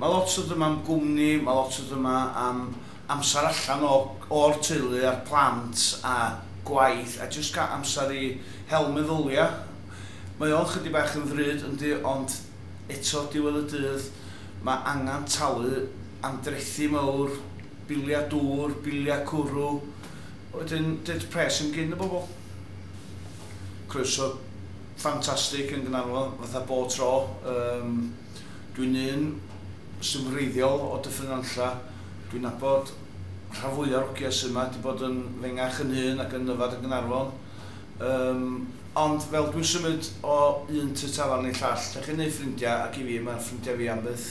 Mae lot o ddim am gwmni, mae lot o ddim am amser allan o o'r teulu a'r plant a gwaith a jyst cael amser i hel meddylia. Mae o'n chydig bach yn ddrud yndi ond eto diwedd y dydd mae angan talu am drethi mawr, bilia dŵr, bilia cwrw a wedyn ded pres yn gin y bobl. Croeso ffantastig yn Gnarfon fatha bob tro yym. Dwi'n un sy'n wreiddiol o Dyffryn Nantlle. Dwi'n nabod rhan fwya o'r ogia sy yma, 'di bod yn fengach yn hŷn ac yn yfad yn Gaernarfon. Yym, ond fel dwi'n symud o un tŷ tafarn i llall, lle chi'n neud ffrindia ac i fi ma' ffrindia fi am byth.